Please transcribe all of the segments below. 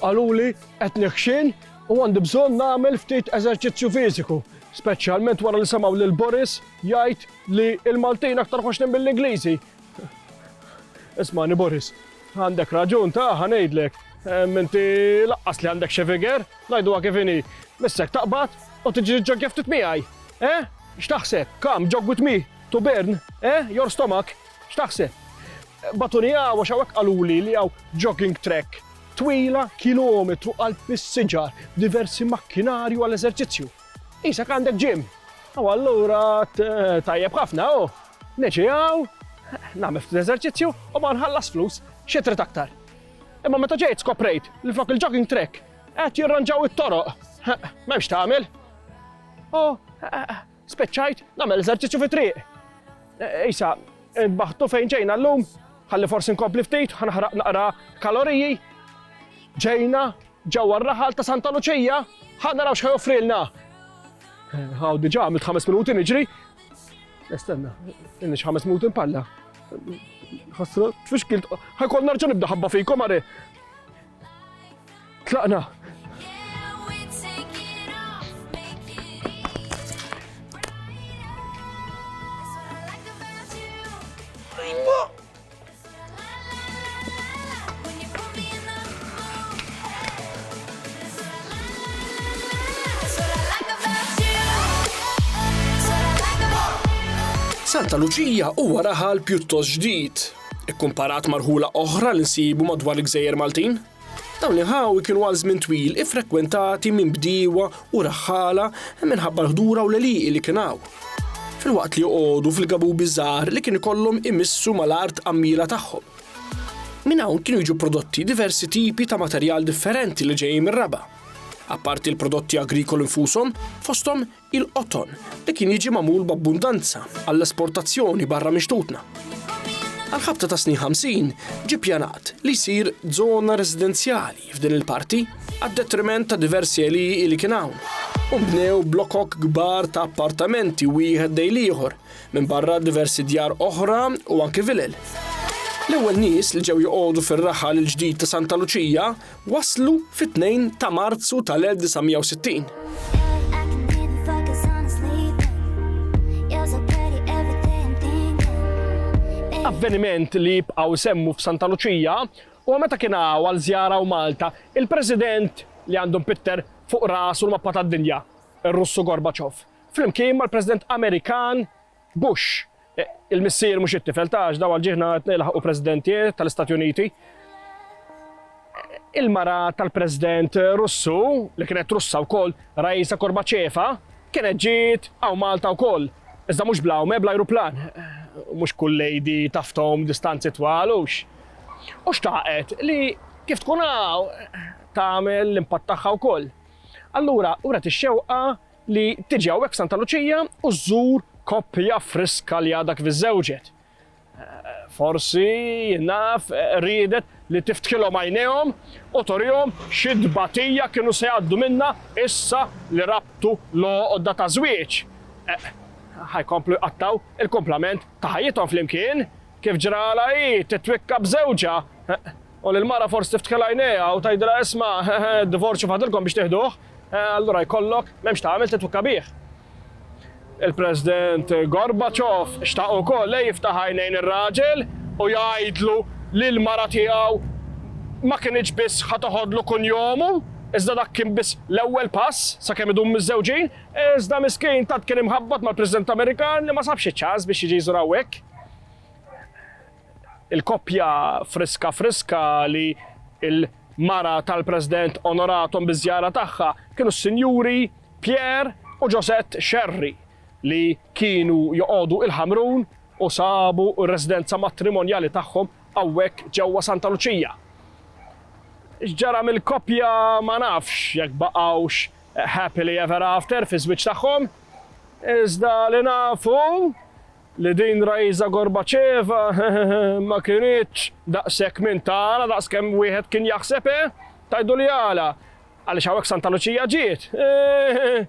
Qaluli qed neħxien u għandi bżonn nagħmel ftit eżerċizzju fiżiku, speċjalment wara li semgħu lil Boris jgħid li l-Maltin aktar ħoxnin mill-Ingliżi. Ismani Boris, għandek raġun ta' ħa ngħidlek, inti laqqas li għandek xi figer, ngħiduha kif inhi, missek taqbad u tiġi ġogja ftit miegħi. Eh? X'taħseb? Kam jog with me to burn? Eh? Your stomach? X'taħseb? Bagħtuni hawn għax hawnhekk qaluli li hawn jogging track twila kilometru qalb is-siġar b'diversi makkinarju għal eżerċizzju. Qisek għandek gym! U allura tajjeb ħafna hu! Niġi hawn, nagħmel ftit eżerċizzju u ma nħallas flus, xi trid aktar? Imma meta ġejt skoprejt li flok il-jogging track qed jirranġaw it-toroq, m'hemmx tagħmel. U Spiċċajt nagħmel eżerċizzju fit-triq. Isa, baħtu fejn ġejna llum, ħalli forsi nkompli ftit, ħanħraq naqra kaloriji. Ġejna ġewwa r-raħal ta' Santa Luċija, ħa naraw x'ħaj offrilna. Għaw diġà għamilt ħames minuti niġri. Estenna, inni ħames minuti npalla. Ħassra, tfixkilt, ħajkol narġa nibda ħabba fikom għare. Tlaqna! Santa Luċija huwa raħal pjuttost ġdid, ikkumparat marħula oħra li nsibu madwar il-gżejjer Maltin. Dawn l-inħawi kienu għal żmien twil iffrekwentati minn bdiewa u raħħala minħabba l-ħdura u l-għelieqi li kien hawn. Filwaqt li joqogħdu fil-gabubi żgħar li kien ikollhom imissu mal-art għammiela tagħhom. Minn hawn kienu jiġu prodotti diversi tipi ta' materjal differenti li ġejjin mir-raba'. Apparti l-prodotti agrikoli nfushom, fosthom il-qoton li kien jiġi magħmul b'abbundanza għall-esportazzjoni barra minn xtutna. Għall-ħabta ta' snin 50 ġie pjanat li jsir żona residenzjali f'din il-parti għad-detriment ta' diversi għeliji li kien hawn u bnew blokok kbar ta' appartamenti wieħed dejn ieħor minn barra diversi djar oħra u anki vilel. L-ewwel nies li ġew joqogħdu fir-raħal il-ġdid ta' Santa Luċija Waslu fit-tnejn ta' Marzu tal-1960. Avveniment li jibqgħu jsemmu f'Santa Luċija huwa meta kien hawn għal żjara hawn Malta il-President li għandu mpitter fuq rasu l-mappa tad-dinja, ir-Russu Gorbachev, flimkien mal-President Amerikan, Bush, il-missier mhux it-tifel, ta' għax daw għall-ġiehna qed nilħaqu Presidentier tal-Istati Uniti. Il-mara tal-President Russu, li kienet Russa wkoll, Raisa Korbacheva, kienet ġiet hawn Malta wkoll, iżda mhux bl-għawme, bl-ajruplan. Mhux kull lady taf tgħum distanzi twal, hux? U xtaqet li kif tkun hawn tagħmel l-impatt tagħha wkoll. Allura, wret ix-xewqa li tiġi hawnhekk f'Santa Luċija u żżur koppja friska li għadha kif iżżewġet. Forsi naf riedet li tiftkilhom għajnejhom u torihom xi tbatija kienu se jgħaddu minna issa li rabtu l-għoqda ta' żwieġ. Ħajkomplu jqattaw il-kumplament ta' ħajjithom flimkien kif ġrala hi titwikka b'żewġha u l-mara forsi tiftkil għajnejha u tgħidilha isma' divorzju fadilkom biex tieħduh. Allura jkollok, m'hemmx tagħmel titwikka bih. Il-President Gorbachev xtaq ukoll li jiftaħ għajnejn ir-raġel u jgħidlu li l-mara tiegħu ma kinitx biss ħa toħodlu kunjomu, iżda dak kien biss l-ewwel pass sakemm idum miżżewġin, iżda miskin tant kien imħabbat mal-President Amerikan li ma sabx iċ-ċans biex jiġi jżur hawnhekk. il-koppja friska friska li l-mara tal-President onorathom biż-żjara tagħha kienu s-Sinjuri Pierre u Josette Scerri li kienu joqogħdu il-Ħamrun u sabu r-residenza matrimonjali tagħhom hawnhekk ġewwa Santa Luċija. X'ġara mill-koppja ma nafx jekk baqgħux happily ever after fiż-żwieġ tagħhom, iżda li nafu li din Raisa Gorbacheva ma kinitx daqshekk minn tagħna daqs kemm wieħed kien jaħseb, eh? Tgħiduli għala? Għaliex hawnhekk Santa Luċija ġiet, eh?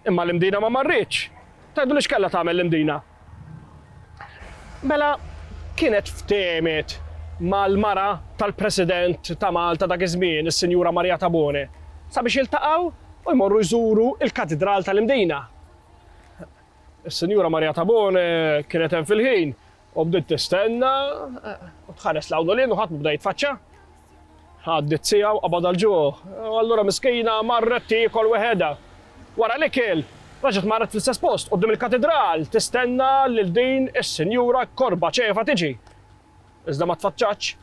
Imma l-Imdina ma marritx. Tgħiduli x'kellha tagħmel l-Imdina? Mela, kienet ftehmet mal-mara tal-President ta' Malta dak iż-żmien, is-Sinjura Maria Tabone, sabiex jiltaqgħu u jmorru jżuru l-Katidral tal-Imdina. Is-Sinjura Maria Tabone kienet hemm fil-ħin u bdiet tistenna u tħares l u lin u ħadd bda jitfaċċa. Għaddit sija u qabad għal-ġuħ. Allura miskina marret tiekol weħeda. Wara li kiel, raġet marret fl-istess post qudiem il-katedral tistenna lil din is-Sinjura korba ċefa tiġi. Iżda ma tfaċċatx.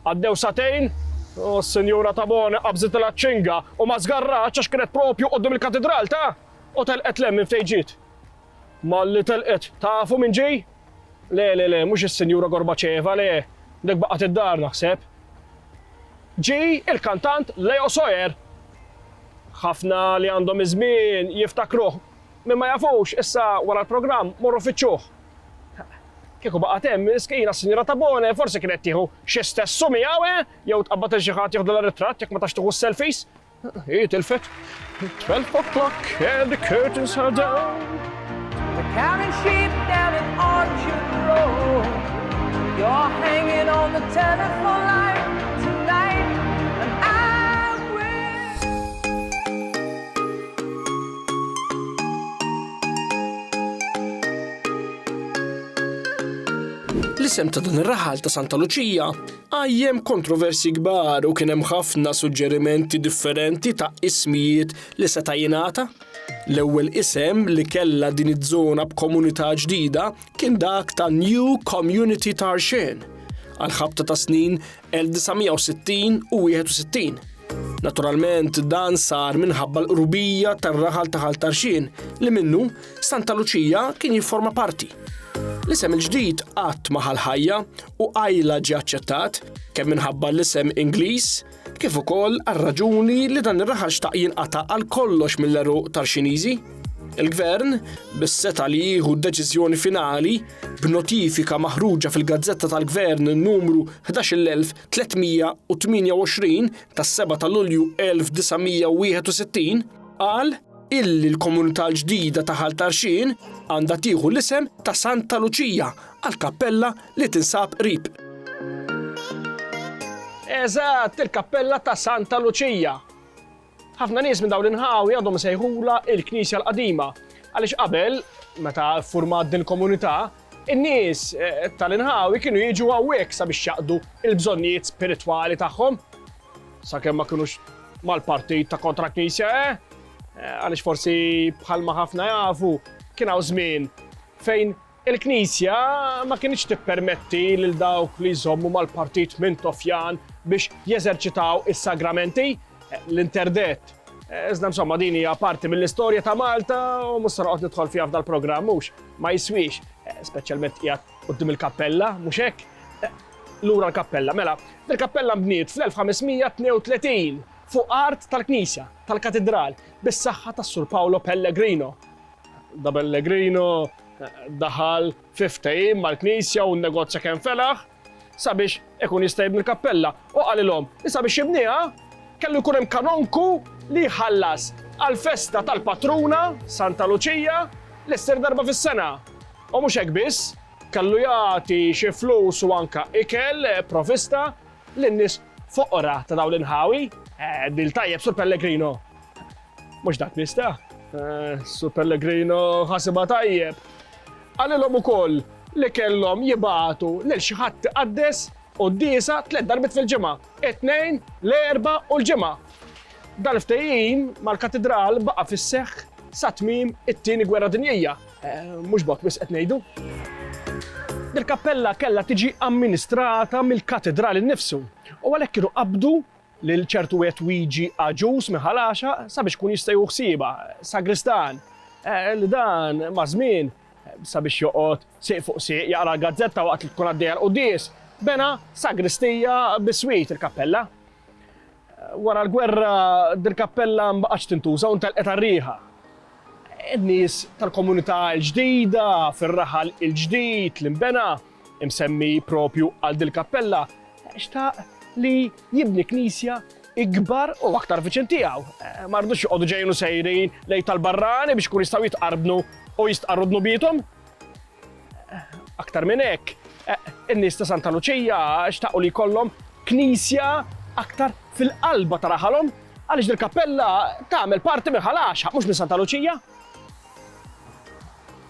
Għaddew sagħtejn u s-Sinjura Tabone qabżitilha ċ-ċinga u ma żgarratx għax kienet propju quddiem il-Katidral ta' u telqet 'l hemm minn fejn ġiet. Malli telqet, tafu min ġie? Le, le, le, mhux is-Sinjura Gorbaċeva, le, dik baqgħet id-dar naħseb. Ġie il-kantant Leo Sojer. Ħafna li għandhom iż-żmien jiftakruh Min ma jafux, issa wara l-programm morru fittxuh. Kieku baqgħet hemm, miskina s-Sinjura Tabone forsi kienet tieħu xi stessu miegħu, eh? Jew tqabbad lil xi ħadd jieħdulha ritratt jekk ma tax tieħu s-selfies. Hi tilfet. Twelve o'clock and the curtains are down. The counting sheep down in Orchard Road. You're hanging on the telephone line. L-isem ta' dan ir-raħal ta' Santa Luċija għajjem kontroversi kbar u kien hemm ħafna suġġerimenti differenti ta' ismijiet li seta' jingħata. L-ewwel isem li kellha din iż-żona b'komunità ġdida kien dak ta' New Community Tarshen. Għal ħabta ta' snin 1960 u 61. Naturalment dan sar minħabba l-qrubija tar-raħal ta' Ħal Tarxien li minnu Santa Luċija kien jifforma parti. L-isem il-ġdid qatt ma ħajja u għajla ġie aċċettat kemm minħabba l-isem Ingliż kif ukoll għar-raġuni li dan ir-raħal xtaq jinqata' għal kollox mill-eruq Tarxiniżi. Il-Gvern, bis-seta' li jieħu d-deċiżjoni finali, B'notifika maħruġa fil-Gazzetta tal-Gvern Numru 11328 tas-7 ta' Lulju 1961, qal illi l-komunità l-ġdida ta' Ħal Tarxien għandha tieħu l-isem ta' Santa Luċija għall-kappella li tinsab qrib. Eżatt, il-kappella ta' Santa Luċija! Ħafna nies minn dawn l-inħawi għadhom isejħulha l-Knisja l-Qadima għaliex qabel, meta ffurmat din il-komunità, in-nies tal-inħawi kienu jiġu hawnhekk sabiex jaqdu l-bżonnijiet spiritwali tagħhom. Sakemm ma kinux mal-partit ta' kontra Knisja, eh? Għaliex forsi bħalma ħafna jafu kien hawn żmien fejn Il-Knisja ma kinitx tippermetti lil dawk li jżommu mal-partit mintofjan biex jeżerċitaw is-sagramenti, l-interdett. Iżda insomma din hija parti mill-istorja ta' Malta u mhux se noqgħod nidħol fiha f'dal-programm mhux, ma jiswiex, speċjalment qiegħed quddiem il-kappella, mhux hekk? Lura l-kappella. Mela, dil-kappella nbniet fl-1532 fuq art tal-knisja, tal-katidral, bis-saħħa tas-Sur Paolo Pellegrino. Da Pellegrino daħal fi ftehim mal-Knisja u n-negozja kemm felaħ sabiex ikun jista' jibni l-kappella u qalilhom li sabiex jibniha kellu jkun hemm kanonku li jħallas għall-festa tal-patruna Santa Luċija li ssir darba fis-sena. U mhux hekk biss, kellu jagħti xi flus u anke ikel provista lin-nies foqra ta' dawn l-inħawi. Eh, dil tajjeb sur Pellegrino. Mhux dak nista'. Eh, Su Pellegrino ħasibha tajjeb. Qalilhom ukoll li kellhom jibgħatu lil xi ħadd iqaddes u d-disa tliet darbit fil-ġimgħa, it-tnejn, l-erba' u l-ġimgħa. Dal-ftehim mal-katidral baqa' fis-seħħ sa tmiem it-tieni gwerra dinjija. Eh, mhux bok biss qed ngħidu. Dil-kappella kellha tiġi amministrata mill-katidral innifsu u għalhekk kienu qabdu lil ċertu wieħed Wiġi Agius minn Ħal Għaxaq sabiex ikun jista' jieħu ħsiebha, sagristan, li dan maż-żmien sabiex joqgħod sieq fuq sieq jaqra l-gazzetta waqt li tkun għaddejja l-quddies, bena sagristija biswit il-kappella. Wara l-gwerra dil-kappella mbaqgħetx tintuża u ntelqet għar-riħa. In-nies tal-komunità l-ġdida fir-raħal il-ġdid li nbena, imsemmi proprju għal dil-kappella, xtaq li jibni knisja ikbar u aktar viċin tiegħu. Ma rdux joqogħdu ġejjin u sejrin lejn tal-barrani biex ikun jistgħu jitqarbnu u jistqarru dnubiethom. Aktar minn hekk, in-nies ta' Santa Luċija xtaqu li jkollhom knisja aktar fil-qalba ta' raħalhom għaliex dil-kappella tagħmel parti minn ħalaxa, mhux minn Santa Luċija.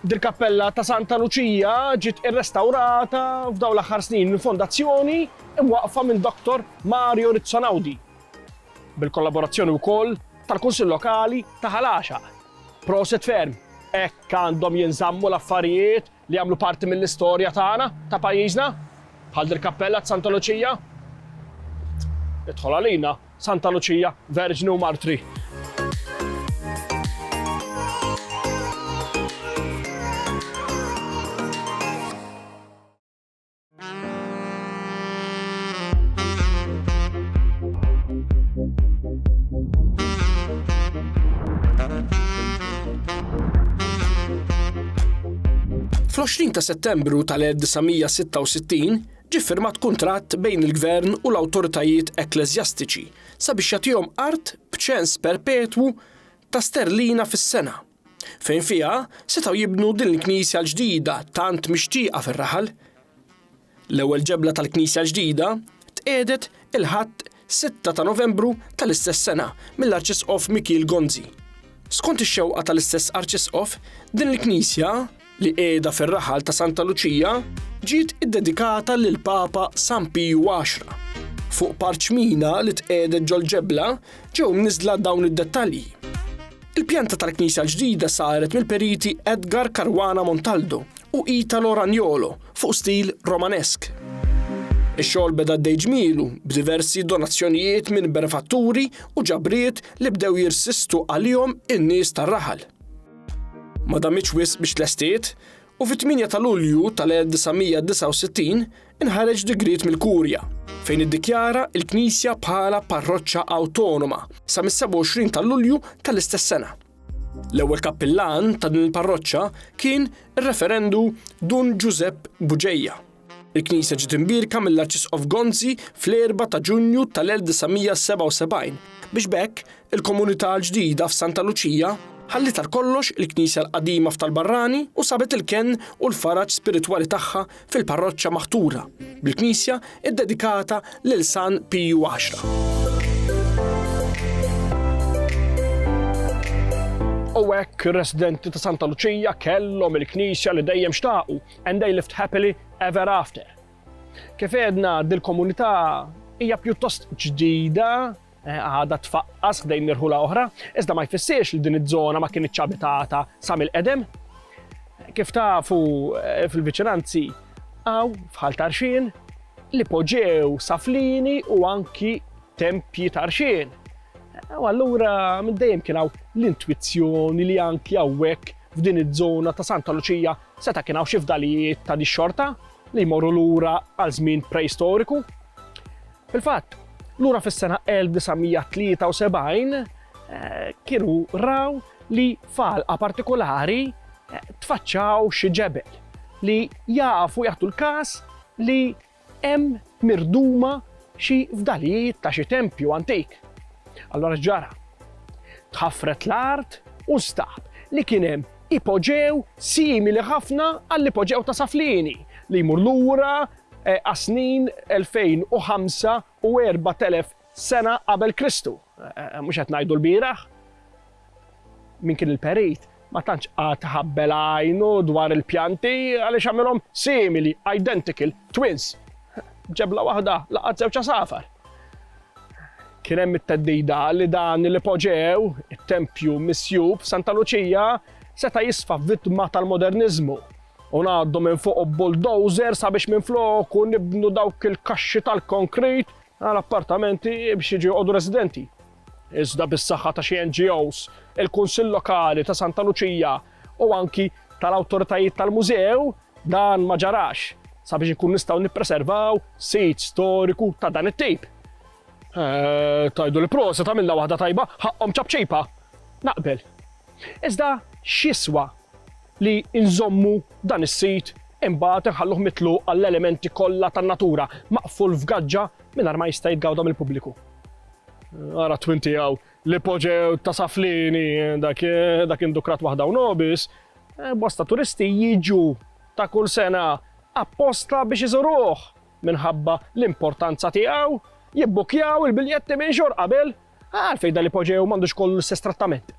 Dil-kappella ta' Santa Luċija ġiet irrestawrata f'dawn l-aħħar snin minn fondazzjoni mwaqqfa minn Dottor Mario Rizzo Naudi, bil-kollaborazzjoni wkoll tal-Kunsill Lokali ta' Ħal Għaxaq. Proset ferm! Hekk għandhom jinżammu l-affarijiet li jagħmlu parti mill-istorja tagħna, ta' pajjiżna, bħal dil-kappella t'Santa Luċija. Idħol għalina, Santa Luċija, Verġni u Martri. Fl-20 ta' Settembru tal-1966 ġie firmat kuntratt bejn il-Gvern u l-awtoritajiet ekkleżjastiċi sabiex jagħtihom art b'ċens perpetwu ta' sterlina fis-sena. fejn fiha setgħu jibnu din il-knisja l-ġdida tant mixtieqa fir-raħal. L-ewwel ġebla tal-knisja l-ġdida tqiegħdet il-Ħadd 6 ta' Novembru tal-istess sena mill-Arċisqof Mikiel Gonzi. Skont ix-xewqa tal-istess Arċisqof, din il-knisja li qiegħda fir-raħal ta' Santa Luċija, ġiet iddedikata lill-Papa San Piju Għaxra. Fuq parċmina li tqiegħdet ġol-ġebla ġew mniżżla dawn id-dettalji. Il-pjanta tal-knisja l-ġdida saret mill-periti Edgar Caruana Montaldo u Italo Ragnolo fuq stil Romanesk. Ix-xogħol beda għaddej ġmielu b'diversi donazzjonijiet minn benefatturi u ġabriet li bdew jirsistu għalihom in-nies tar-raħal. Ma damitx wisq biex tlestiet u fit-8 ta' Lulju tal-1969 inħareġ digriet mill-Kurja fejn iddikjara l-Knisja bħala parroċċa awtonoma sa mis-27 ta' Lulju tal-istess sena. L-ewwel kappillan ta' din il-parroċċa kien ir-referendu Dun Ġużepp Buġeja. Il-Knisja ġiet imbierka mill-Arċisqof Gonzi fl-4 ta' Ġunju tal-1977 biex b'hekk il-komunità l-ġdida f'Santa Luċija ħalliet għal kollox il-Knisja l-qadima f'Tal-Barrani u sabet il-kenn u l-faraġ spiritwali tagħha fil-parroċċa maħtura bil-knisja ddedikata lil San Piju Għaxra. U hekk ir-residenti ta' Santa Luċija kellhom il-knisja li dejjem xtaqu And they lived happily ever after. Kif għedna dil-komunità hija pjuttost ġdida eh, għada tfaqqas ħdejn nirħula oħra, iżda ma jfissiex li din iż-żona ma kien iċċabitata sa mill-qedem. Kif tafu eh, fil-viċinanzi għaw fħal tarxin li poġew saflini u anki tempji tarxin. Eh, u allura minn dejjem kien hawn l-intwizzjoni li anki hawnhekk f'din iż-żona ta' Santa Luċija Seta' kien hawn xi fdalijiet ta' dix-xorta li jmorru lura għal żmien preistoriku. Fil-fatt, lura fis-sena 1973 kienu raw li f'għalqa partikulari tfaċċaw xi ġebel li jafu jagħtu l-każ li hemm mirduma xi fdalijiet ta' xi tempju antik. Allura x'ġara? Tħaffret l-art u nstab li kien hemm ipoġew simili ħafna għall-ipoġew ta' Saflieni li jmur lura għas-snin 2005 u 4000 Sena qabel Kristu, mhux qed ngħidu lbieraħ, min kien il-perit ma tantx qagħad ħabbel għajnu dwar il-pjanti għaliex għamilhom simili, identical, twins. B'ġebla waħda laqat żewġ għasafar. Kien hemm it-theddida li dan l-ipoġew, it-tempju misjub Santa Luċija, seta' jisfa' vittma tal-moderniżmu u ngħaddu minn fuq bulldozer sabiex minn floku nibnu dawk il-kaxxi tal-konkrit Għal appartamenti biex jiġu joqogħdu residenti. Iżda bis-saħħa ta' xi NGOs, il-Kunsill Lokali ta' Santa Luċija u anki tal-awtoritajiet tal-mużew dan ma ġarax sabiex ikun nistgħu nippreservaw sit storiku ta' dan it-tip. Eh, tajdu li prosa ta' minna waħda tajba, ħaqqom ċabċipa. Naqbel. Iżda x'jiswa li nżommu dan is-sit imbagħad inħalluh mitluq għall-elementi kollha tan-natura, maqful f'gaġġa mingħajr ma jista' jitgawda mill-pubbliku. Ara t-twin tiegħu l-ipoġew ta' Saflieni dak dak indukrat waħda u nobis, eh, bosta turisti jiġu ta' kull sena apposta biex iżuruh minħabba l-importanza tiegħu, jibbukjaw il-biljetti minn xhur qabel Għalfejn dan l-ipoġew m'għandux kollu l-istess trattament?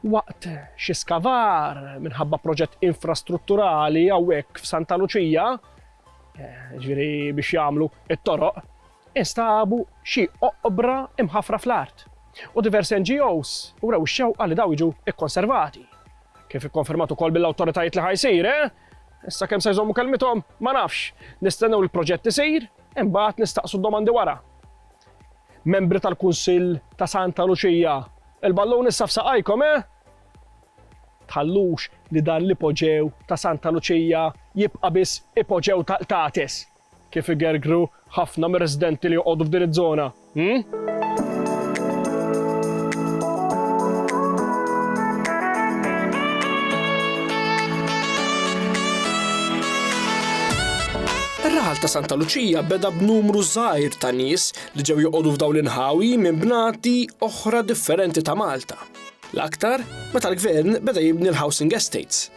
Waqt xi skavar minħabba proġett infrastrutturali hawnhekk f'Santa Luċija, eh, ġifieri biex jagħmlu it-toroq, instabu xi oqbra imħafra fl-art u diversi NGOs u rew xewqa li daw jiġu ikkonservati. Kif ikkonfermatu kol bil-awtoritajiet li ħajsir, eh? Issa kemm se jżommu kelmithom, ma nafx. Nistennew il-proġett isir, imbagħad nistaqsu domandi wara. Membri tal-Kunsill ta' Santa Luċija, il-ballun issa f'saqajkom, eh? Tħallux li dan l-ipoġew ta' Santa Luċija jibqa' biss ipoġew ta' qtates, kif igergru ħafna mir-residenti li joqogħdu f'din iż-żona, hm? Ir-raħal ta' Santa Luċija beda b'numru żgħir ta' nies li ġew joqogħdu f'dawn l-inħawi minn bnati oħra differenti ta' Malta, l-aktar meta l-Gvern beda jibni l-housing estates.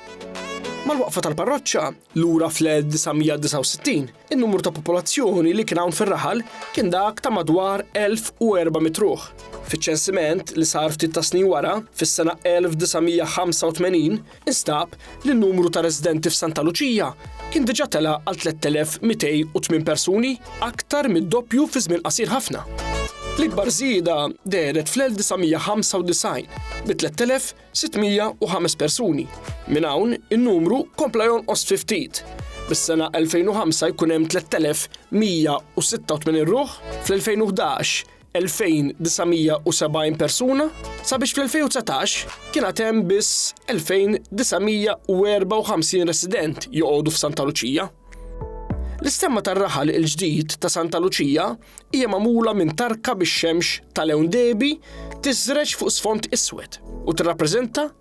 Mal-waqfa tal-parroċċa, lura fl-1969, in-numru ta' popolazzjoni li kien hawn fir-raħal kien dak ta' madwar 1,400 ruħ. Fiċ-ċensiment li sar ftit tas-snin wara, fis-sena 1985, instab li n-numru ta' residenti f'Santa Luċija kien diġà tela' għal 3,208 persuni, aktar mid-doppju fi żmien qasir ħafna. L-ikbar żieda dehret fl-1995 bi 3,605 persuni. Minn hawn in-numru kompla jonqos fi ftit, bis-sena 2005 jkun hemm 3,186 ruħ, fl-2011 2,970 persuna sabiex fl-2019 kien għad hemm biss 2,954 resident joqogħdu f'Santa Luċija. L-istemma tar-raħal il-ġdid ta' Santa Luċija hija magħmula minn tarka bix-xemx tal-ewn debi tiżreġ fuq sfond iswed u tirrappreżenta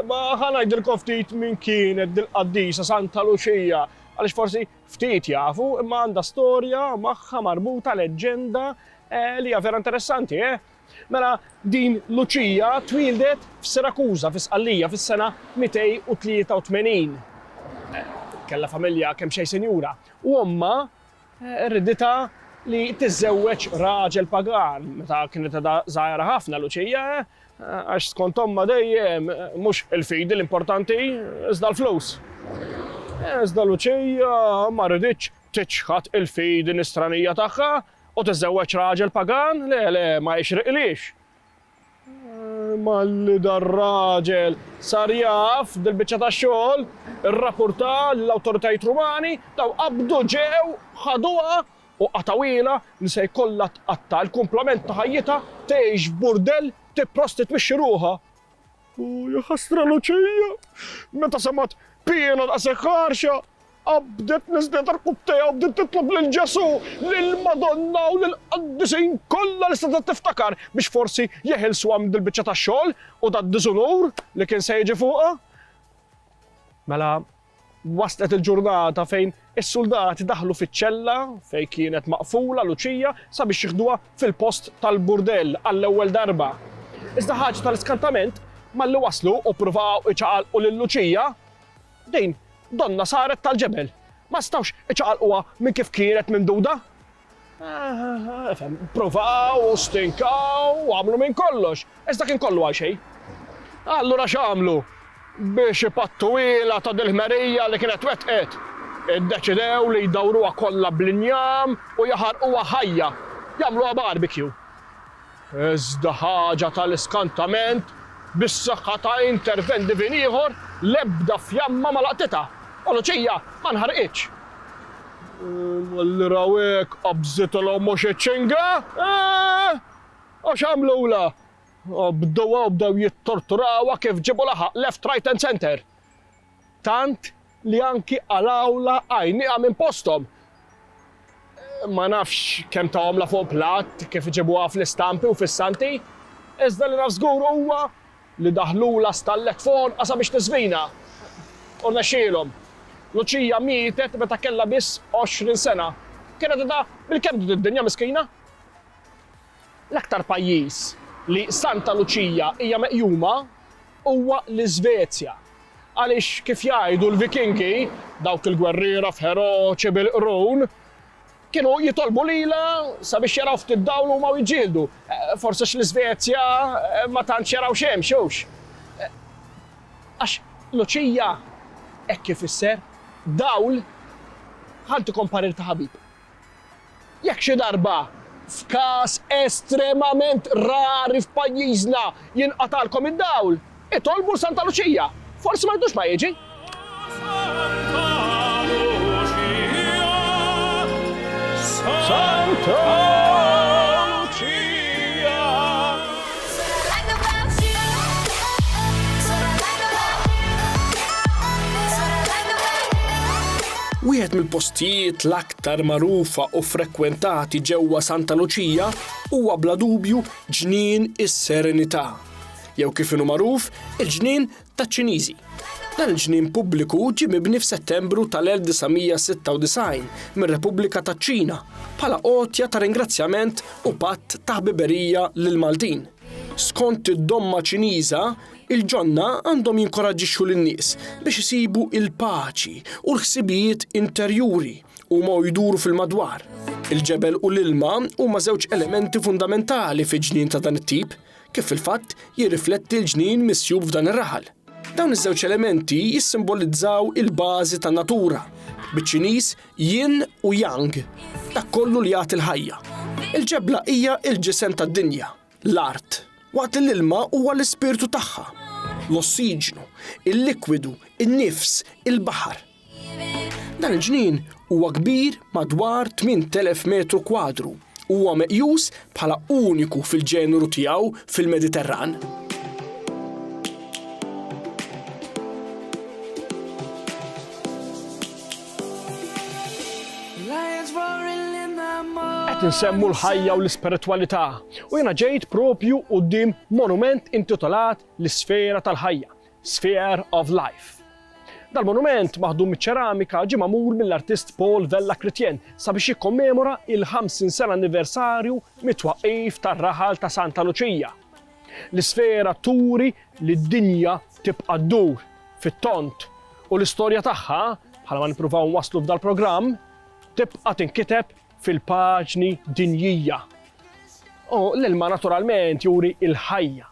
Imma ħa ngħidilkom ftit min kienet dil-qaddisa Santa Luċija, għaliex forsi ftit jafu, imma għandha storja magħha marbuta leġġenda li hija vera interessanti, eh? Mela din Luċija twieldet f'Sirakuża fi Sqallija fis-sena 283. Kellha familja kemm xejn sinjura u ommha Irriditha li tiżżewweġ raġel pagan meta kienet għadha żgħira ħafna Luċija, għax skont ommha dejjem mhux il-fidi l-importanti, iżda l-flus. Iżda Luċija ma riditx tiċħad il-fidi nisranija tagħha u tiżżewweġ raġel pagan, le, le, ma jixriqlhiex. Malli dar-raġel sar jaf dil-biċċa ta' xogħol, irrappurta lill-awtoritajiet Rumani, dawn qabdu, ġew, ħaduha u qatgħuhielha li se jkollha tqatta' l-kumplament ta' ħajjitha, tgħix f'burdell, tipprostitwixxi ruħha. O jaħasra Luċija meta semgħet piena daqshekk ħarxa! Qabdet niżlet irkub tejha u bdiet titlob lil Ġesù, lill-Madonna u lill-qaddisin kollha li setgħet tiftakar biex forsi jeħilsuha minn dil-biċċa ta' xogħol u dad-diżunur li kien se jiġi fuqha. Mela waslet il-ġurnata fejn is-suldati daħlu fiċ-ċella fejn kienet maqfula Luċija sabiex jiħduha fil-post tal-burdell għall-ewwel darba. Iżda ħaġa tal-iskantament, malli waslu u ppruvaw iċaqalqu lil Luċija, Din donnha saret tal-ġebel. Ma setgħux iċaqalquha minn kif kienet mimduda. Ifhem, pruvaw u stinkaw u għamlu minn kollox, iżda kien kollu għal xejn. Allura x'għamlu biex ipattuhielha ta' dil-ħmerija li kienet wettqet? Iddeċidew li jdawruha kollha bl-injam u jaħarquha ħajja, jagħmluha barbecue. Iżda ħaġa tal-iskantament, bis-saħħa ta' intervent divin ieħor, l-ebda fjamma ma laqtitha, u Luċija ma nħarqitx. Malli raw hekk, qabżitilhom mhux iċ-ċinga, eeh! Għax għamlulha? Qabduha u bdew jittorturawha kif ġiebu laħaq left, right and centre. Tant li anki qalgħulha għajnieha minn posthom. Ma nafx kemm tahomlha fuq platt, kif iġibuha fl-istampi u fis-Santi, iżda li naf żgur huwa li daħħlulha stallett fuq għonqha sabiex tiżvina. U rnexxielhom. Luċija mietet meta kellha biss għoxrin sena. Kienet edha bil-kebdu d-dinja miskina. L-aktar pajjiż li Santa Luċija hija meqjuma huwa l-Iżvezja għaliex kif jgħidu l-Vikingi, dawk il-gwerriera feroċi bil-qrun, kienu jitolbu lilha sabiex jaraw ftit dawl huma u jiġġieldu. Forsi għax l-Iżvezja ma tantx jaraw xemx, hux? Għax Luċija hekk ifisser, dawl, ħa ntikom parir ta' ħabib. Jekk xi darba, f'każ estremament rari f'pajjiżna, jinqatagħlkom id-dawl, itolbu 'l Santa Luċija. Forsi ma jdux ma jiġi. Wieħed mill-postijiet l-aktar L-aktar magħrufa u frekwentati ġewwa Santa Luċija huwa bla dubju Ġnien is-Serenità, jew kif inhu magħruf, il-Ġnien taċ-Ċiniżi. Dan il-ġnien pubbliku ġie mibni f'Settembru tal-1996 mir-Repubblika taċ-Ċina bħala għotja ta' ringrazzjament u patt ta' ħbiberija lill-Maltin. Skont id-domma Ċiniża, Il-ġonna għandhom jinkoraġġixxu lin-nies biex isibu l-paċi u l-ħsibijiet interjuri huma u jduru fil-madwar. Il-ġebel u l-ilma huma żewġ elementi fundamentali fi ġnien ta' dan it-tip, kif fil-fatt jirrifletti l-ġnien misjub f'dan ir-raħal. Dawn iż-żewġ elementi jissimbolizzaw il-bażi tan-natura, biċ-Ċiniż Yin u Yang, dak kollu li jagħti l-ħajja. Il-ġebla hija l-ġisem tad-dinja. L-art, waqt li l-ilma huwa l-ispirtu tagħha, l-ossiġnu, il-likwidu, in-nifs, il-baħar. Dan il-ġnien huwa kbir madwar 8,000 metru kwadru u huwa meqjus bħala uniku fil-ġeneru tiegħu fil-Mediterran. Qed insemmu l-ħajja u l-ispiritwalità u jiena ġejt propju quddiem monument intitolat l-Isfera tal-Ħajja, Sphere of Life. Dal-monument maħdum miċ-ċeramika ġie magħmul mill-artist Paul Vella Chrétien sabiex jikkommemora il-50 sena anniversarju mit-twaqqif tar-raħal ta' Santa Luċija. L-isfera turi li d-dinja tibqa' ddur fit-tond u l-istorja tagħha, bħala ma nippruvaw nwasslu f'dal-programm, tibqa' tinkiteb fil-paġni dinjija. U l-ilma naturalment juri l-ħajja.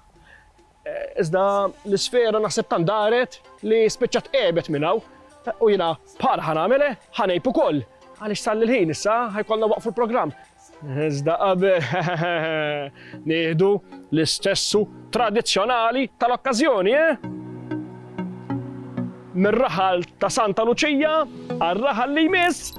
Iżda l-isfera naħseb tant daret li spiċċat għebet minn hawn u jiena bħalha ħa nagħmel, ħa ngħib ukoll, għaliex sal-ilħin issa ħa jkollna waqfu l-programm. Iżda qabel nieħdu l-istessu tradizzjonali tal-okkażjoni, eh? Mir-raħal ta' Santa Luċija għar-raħal li jmiss.